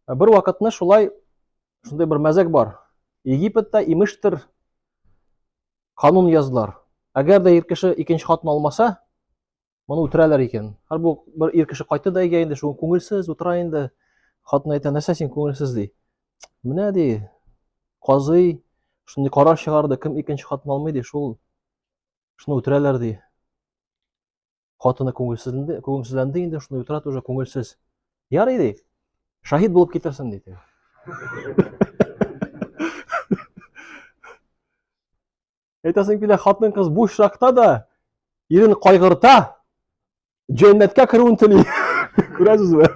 Ә бер вакытны шулай шундый бер мәзәк бар. Египетта имештер канун язлар. Әгәр дә ир кеше икенче хатын алмаса, моны үтерәләр икән. Һәр бу бер ир кеше кайтты да әйгә инде шул күңелсез утыра инде. Хатын әйтә, нәрсә син күңелсез ди. Менә ди, казый шундый карар чыгарды, кем икенче хатын алмый ди, шул шуны үтерәләр ди. Хатыны күңелсезленде, күңелсезләнде инде, шуны утыра тоже күңелсез. Ярый ди. Шаһид булып китерсен диде. Әйтәсең килә, хатын кыз буш чакта да ирен кайгырта, җәннәткә керүен тели. Күрәсезме?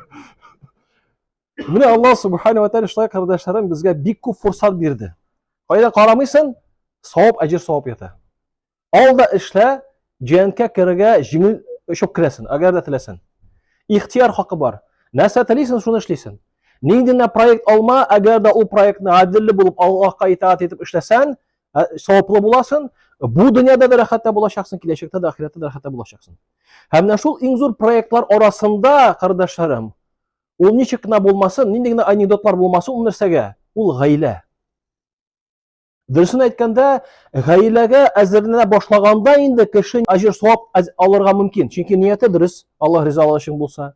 Менә Аллаһ субхану ва тааля шулай кардәшләрем безгә бик күп фурсат бирде. Кайда карамыйсың, савап, әҗер савап ята. Ал да эшлә, җәенкә керергә җиңел очып керәсен, әгәр дә теләсен. Ихтияр хакы бар. Нәрсә телисен, шуны эшлисен. Нинди генә проект алма, әгәр дә ул проектны гаделле булып Аллаһка итаат итеп эшләсән, ә, саваплы буласың, бу дөньяда да рәхәттә булачаксың, киләчәктә дә ахирәттә дә рәхәттә булачаксың. Һәм менә шул иң зур проектлар арасында, кардәшләрем, ул ничек кенә булмасын, нинди генә анекдотлар булмасын, ул нәрсәгә? Ул гаилә. Дөресен әйткәндә, гаиләгә әзерләнә башлаганда инде кеше әҗер савап алырга мөмкин. Чөнки нияте дөрес, Аллаһ ризалыгы өчен булса.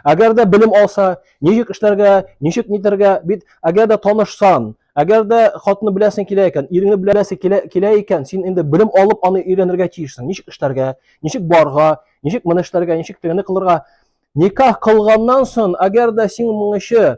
Әгәр дә белем алса, ничек эшләргә, ничек нитәргә, бит әгәр дә танышсан, әгәр дә хатны беләсең килә икән, иреңне беләсең килә, килә икән, син инде белем алып аны өйрәнергә тиешсең. Ничек эшләргә, ничек барга, ничек моны эшләргә, ничек тегене кылырга. Никах кылганнан соң, әгәр дә син моңчы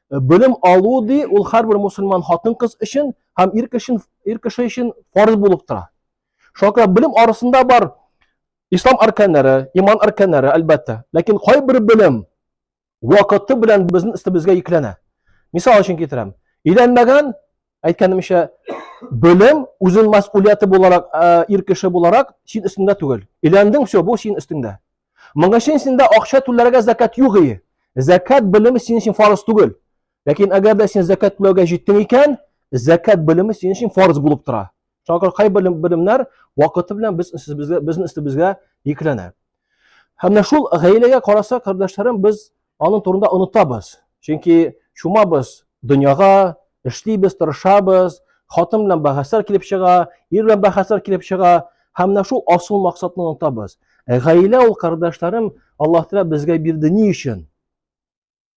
Белем алу ди, ул һәрбер мусульман хатын-кыз өчен һәм ир кеше ир кеше өчен фарыз булып тора. Шуңа белем арасында бар ислам арканнары, иман арканнары, әлбәттә. Ләкин кайбер белем вакыты белән безнең өстебезгә йөкләнә. Мисал өчен китерәм. Өйләнмәгән Әйткәнемчә, белем үзен мәсъулияте буларак, ә, ир кеше буларак син өстендә түгел. Иләндең, все, бу син өстендә. Моның өчен синдә акча түләргә закат юк ие. Закат белеме синең өчен фарыз түгел. Ләкин әгәр дә син закат түләргә җиттең икән, закат белеме синең өчен фарыз булып тора. шуңа күрә кайбер белемнәр вакыты белән без безгә безнең өстебезгә йөкләнә һәм менә шул гаиләгә караса кардәшләрем без аның турында онытабыз чөнки чумабыз дөньяга эшлибез тырышабыз хатын белән бәхәсләр килеп чыга, ир белән бәхәсләр килеп чыга һәм менә шул асыл максатны онытабыз. Ә гаилә ул, кардәшләрем, Аллаһ Тәгалә безгә бирде ни өчен?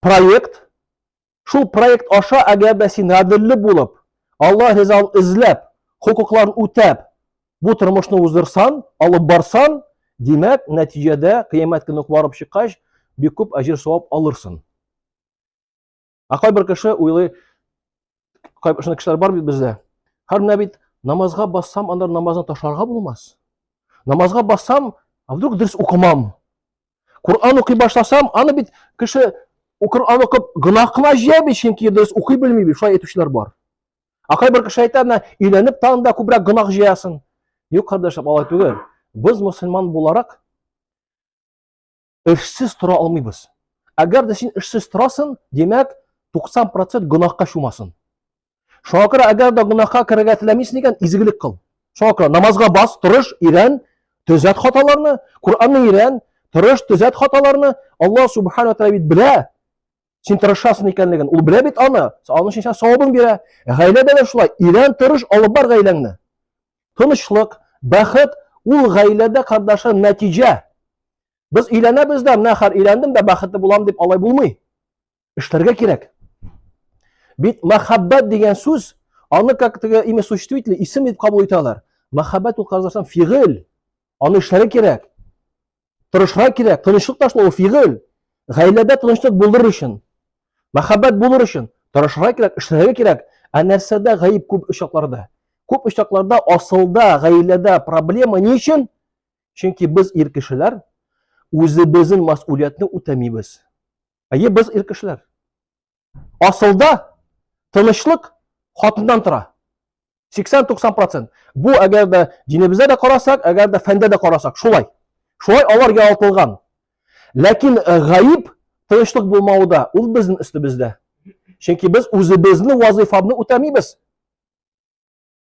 проект, шул проект аша, әгәр дә син гаделле булып, Алла ризалыгын эзләп, хокукларын үтәп, бу тормышны уздырсан, алып барсан, димәк, нәтиҗәдә кыямәт көне барып чыккач, бик күп әҗер савап алырсың. Ә кайбер кеше уйлый, шундый кешеләр бар бит бездә. Һәр менә бит намазга бассам, анда намазны ташларга булмас. Намазга бассам, а вдруг дөрес укымам? Коран укый башласам, аны бит кеше Коран укып гөнаһ кына җыя бит, чөнки дөрес укый белми бит, шулай әйтүчеләр бар. Ә кайбер кеше әйтә, менә өйләнеп тагын да күбрәк гөнаһ җыясын. Юк, кардәшләр, алай түгел. Без мусульман буларак эшсез тора алмыйбыз. Әгәр дә син эшсез торасын, димәк, 90% гөнаһка чумасын. Шуңа күрә әгәр дә гөнаһка керергә теләмисең икән, изгелек кыл. Шуңа күрә намазга бас, тырыш, ирән, төзәт хаталарны, Куранны ирән, тырыш, төзәт хаталарны. Алла субхана ва тааля бит белә. Син тырышасың икәнлеген. Ул белә бит аны. Аның өчен сиңа савабын бирә. Гаиләдә дә шулай. Ирен тырыш алып бар гаиләңне. Тынычлык, бәхет ул гаиләдә кардашым нәтиҗә. Без өйләнәбез дә, менә хәр өйләндем дә бәхетле булам дип алай булмый. Эшләргә кирәк. Бит мәхәббәт дигән сүз, аны как теге имя существительное исем дип кабул итәләр. Мәхәббәт ул кардашым фигыль. Аны эшләргә кирәк. тырышырга кирәк. Тынычлык ташлау фигыль. Гаиләдә тынычлык булдырыр өчен, мәхәббәт булыр өчен тырышырга кирәк, эшләргә кирәк. Ә нәрсәдә гаип күп очакларда? Күп очакларда асылда, гаиләдә проблема ни өчен? Чөнки без ир кешеләр үзебезнең мәсъулиятне үтәмибез. Әйе, без ир кешеләр. Асылда тынычлык хатыннан тора. 80-90%. Бу әгәр дә динебездә дә карасак, әгәр дә фәндә дә карасак, шулай. Шулай алар яралтылган. Ләкин э, гаиб тынычлык булмавы да ул безнең өстебездә. Чөнки без үзебезнең вазифабны үтәмибез.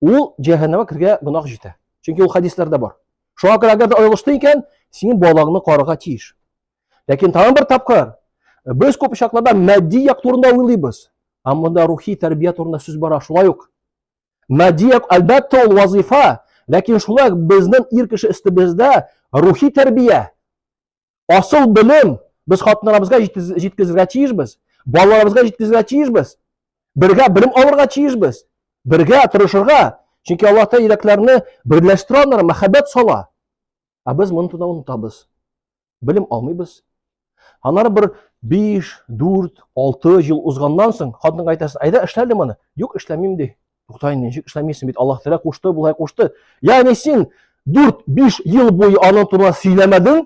ул җәһәннәмә кергә гөнаһ җитә. Чөнки ул хәдисләрдә бар. Шуңа күрә әгәр дә аерылышты икән, синең балаңны карарга тиеш. Ләкин тагын бер тапкыр без күп очракларда матди як турында уйлыйбыз. Ә монда рухи тәрбия турында сүз бара, шулай ук. Матди як әлбәттә ул вазифа, ләкин шулай безнең ир кеше өстебездә рухи тәрбия, Асыл белем без хатыннарыбызга җиткезергә тиешбез, балаларыбызга җиткезергә тиешбез. Бергә белем алырга тиешбез. Бергә тырышырга. Чөнки Аллаһ Тәгалә йөрәкләрне берләштерә алар, мәхәббәт сала. Ә без моны туда онытабыз. Белем алмыйбыз. Аннары бер 5, 4, 6 ел узганнан соң хатынга әйтәсең, әйдә эшләле моны. Юк, эшләмим ди. Тукта инде, ничек эшләмисең бит, Аллаһ Тәгалә кушты, болай кушты. Ягъни син 4-5 ел буе аның турында сөйләмәдең,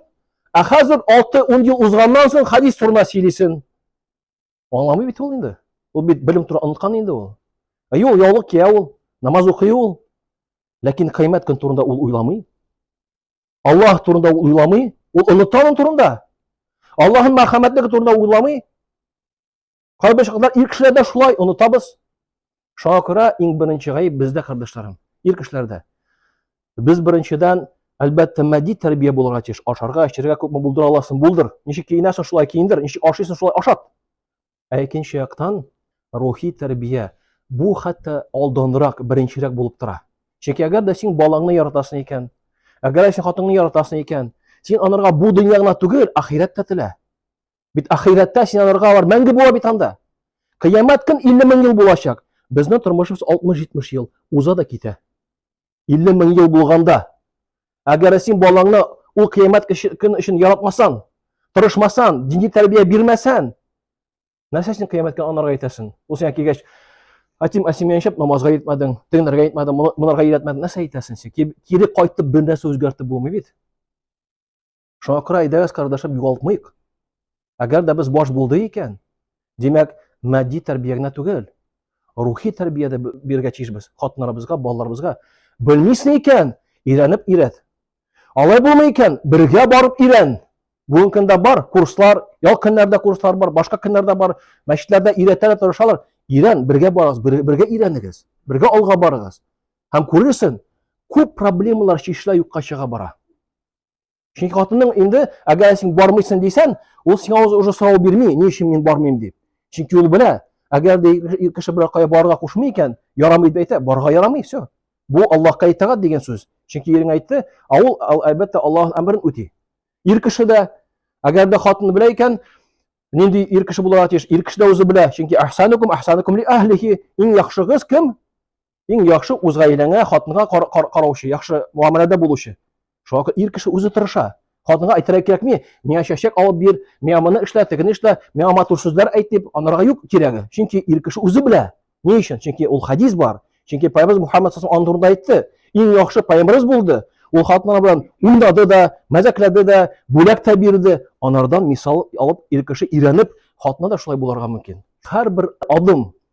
ә хәзер 6-10 ел узганнан соң хадис турында сөйлисең. Аңламый бит ул инде. Ул бит белем турында оныткан инде ул. Ә юк, яулык кия ул, намаз укый ул. Ләкин кыямәт көн турында ул уйламый. Аллаһ турында ул уйламый, ул оныта аның турында. Аллаһның мәрхәмәтлеге турында уйламый. Кайбер чаклар ир кешеләрдә шулай онытабыз. Шуңа күрә иң беренче гаеп бездә, кардәшләрем, ир кешеләрдә. Без беренчедән, әлбәттә, матди тәрбия булырга тиеш. Ашарга, эчәргә күпме булдыра аласың, булдыр. Ничек киенәсең, шулай киендер. Ничек ашыйсың, шулай ашат. Ә икенче яктан, рухи тәрбия. Бу хәтта алданрак, беренчерәк булып тора. Чөнки әгәр дә син балаңны яратасың икән, әгәр дә син хатыныңны яратасың икән, син анарга бу дөнья гына түгел, ахирәт тә телә. Бит ахирәттә син аларга алар мәңге була бит анда. Кыямәт көн 50 мең ел булачак. Безнең тормышыбыз 60-70 ел уза да китә. 50 мең ел булганда, әгәр син балаңны ул кыямәт көн өчен яратмасаң, тырышмасаң, дини тәрбия бирмәсәң, нәрсә син кыямәткә анарга әйтәсең? Ул сиңа килгәч, Атим Асимия шәп намазга йөртмәдең, тегенәргә әйтмәдең, монарга йөртмәдең, нәрсә әйтәсең син? Кире кайтып бер нәрсә үзгәртеп булмый бит. Шуңа күрә әйдәгез, кардәшем, югалтмыйк. Әгәр дә без баш булды икән, димәк, матди тәрбия генә түгел, рухи тәрбия дә бирергә тиешбез хатыннарыбызга, балаларыбызга. Белмисең икән, өйрәнеп өйрәт. Алай булмый икән, бергә барып өйрән. Бүгенге көндә бар курслар, ял көннәрдә курслар бар, башка көннәрдә бар, мәчетләрдә өйрәтәләр, тырышалар. Өйрән, бергә барыгыз, бергә өйрәнегез, бергә алга барыгыз. Һәм күрерсең, күп проблемалар чишелә юкка чыга бара. Чөнки хатының инде, әгәр син бармыйсың дисән, ул сиңа уже сорау бирми, ни өчен мин бармыйм дип. Чөнки ул белә, әгәр дә кеше бер кая барырга кушмый икән, ярамый дип әйтә, барырга ярамый, все. Бу Аллаһка итагать дигән сүз. Чөнки ирең әйтте, ә ул әлбәттә Аллаһның әмерен үти. Ир кеше дә, әгәр дә хатыны белә икән, нинди ир кеше булырга тиеш? Ир кеше дә үзе белә, чөнки әхсанукум әхсанукум ли әһлихи, иң яхшыгыз кем? Иң яхшы үз гаиләңә, хатынга кар, кар, караучы, яхшы муамәләдә булучы. Шуңа күрә ир кеше үзе тырыша. Хатынга әйтергә кирәкми, миңа чәчәк алып бир, миңа моны эшлә, тегене эшлә, миңа матур сүзләр әйт дип, анарга юк кирәге. Чөнки ир кеше үзе белә. Ни өчен? Чөнки ул хадис бар. Чөнки Пайгамбарыбыз Мухаммад саллаллаху алейһи турында әйтте. Иң яхшы пайгамбарыбыз булды. Ул хатыннар белән уйнады да, мәзәкләде дә, бүләк тә бирде. Анардан мисал алып, ир кеше өйрәнеп, хатына да шулай буларга мөмкин. Һәрбер адым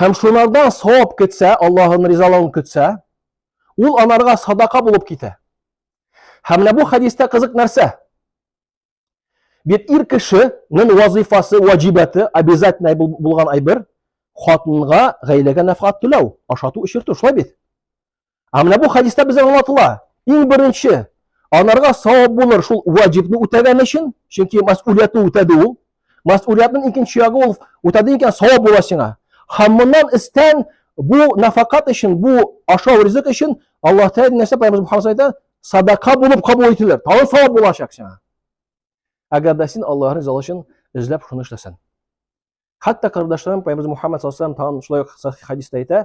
Һәм шунардан савап көтсә, Аллаһын ризалыгын көтсә, ул аларга садака булып китә. Һәм менә бу хәдистә кызык нәрсә? Бит ир кешенең вазифасы, ваҗибаты, обязательно булган әйбер, хатынга гаиләгә нәфкат түләү, ашату, эчертү, шулай бит. Ә менә бу хадиста безгә аңлатыла. Иң беренче, анарга савап булыр шул ваҗибны үтәгән өчен, чөнки мәсъулиятне үтәде ул. Мәсъулиятнең икенче ягы ул үтәде икән савап була сиңа. Һәм моннан истән бу нафакат өчен, бу ашау ризык өчен Аллаһ Тәгалә нәрсә Пәйгамбер Мухаммад әйтә? Садака булып кабул ителер. Тагын савап булачак сиңа. Әгәр дә син Аллаһ ризалыгы өчен эзләп шуны эшләсәң. Хәтта кардәшләрем Пәйгамбер Мухаммад саллаллаһу алейһи ва саллям тагын шулай хадиста әйтә,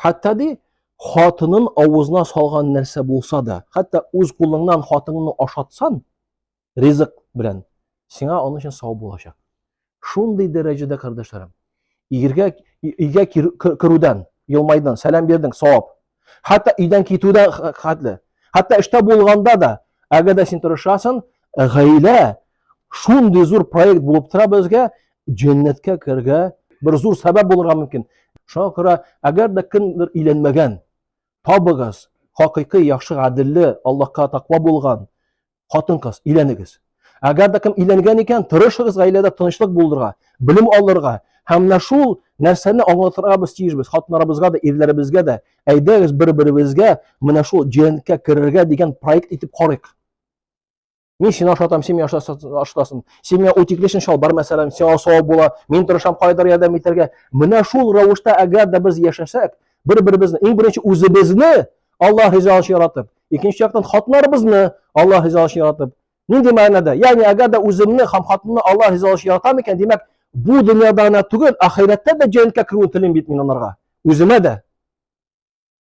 Хәтта ди, хатынын авызына салган нәрсә булса да, хәтта үз кулыңнан хатыныңны ашатсан, ризык белән, сиңа аның өчен сау булачак. Шундый дәрәҗәдә, кардәшләрем, игергә өйгә керүдән, елмайдан, сәлам бирдең, савап. Хәтта өйдән китүдән хәтле. Хәтта эштә булганда да, әгәр дә син тырышасың, гаилә Шундый зур проект булып тора безгә, җәннәткә керергә бер зур сәбәп булырга мөмкин. Шуңа күрә, әгәр дә кемдер өйләнмәгән, табыгыз, хакыйкый яхшы гаделле, Аллаһка таква булган хатын-кыз, өйләнегез. Әгәр дә кем өйләнгән икән, тырышыгыз гаиләдә тынычлык булдырырга, белем алырга, Һәм менә шул нәрсәне аңлатырга без тиешбез хатыннарыбызга да, ирләребезгә дә. Әйдәгез бер-беребезгә менә шул җәннәткә керергә дигән проект итеп карыйк. Мин сине ашатам, син ашатасың. Син миңа утеклешен чалбар мәсәлән, сиңа савап була. Мин тырышам кайдыр ярдәм итәргә. Менә шул рәвештә әгәр дә без яшәсәк, бер-беребезне иң беренче үзебезне Аллаһ ризалыгы өчен яратып, икенче яктан хатыннарыбызны Аллаһ ризалыгы өчен яратып. Нинди мәгънәдә? Ягъни әгәр дә үземне һәм хатынны Аллаһ ризалыгы өчен яратам икән, димәк, бу дөньяда гына түгел, ахирәттә дә җәннәткә керүен телим бит мин анарга. Үземә дә,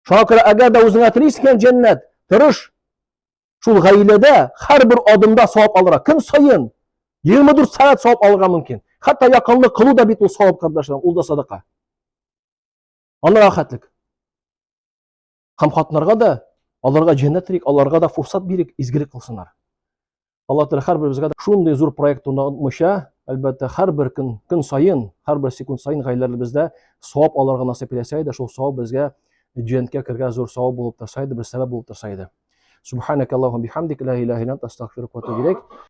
Шуңа күрә әгәр дә үзеңә тели икән җәннәт, тырыш. Шул гаиләдә һәрбер адымда савап алырга. Көн саен 24 сәгать савап алырга мөмкин. Хәтта якынлык кылу да бит ул савап, кардәшләр, ул да садака. Аны рәхәтлек. Һәм хатыннарга да аларга җәннәт телик, аларга да фурсат бирик, изгелек кылсыннар. Алла Тәгалә һәрберебезгә дә шундый зур проект турында онытмыйча, әлбәттә, һәрбер көн, көн саен, һәрбер секунд саен гаиләләребездә савап алырга насыйп итсә иде, шул савап безгә җәннәткә кергән зур савап булып торса иде, бер сәбәп булып торса иде. Субханакаллаху бихамдик ла иляха илля анта астагфирука ва атубу илейк.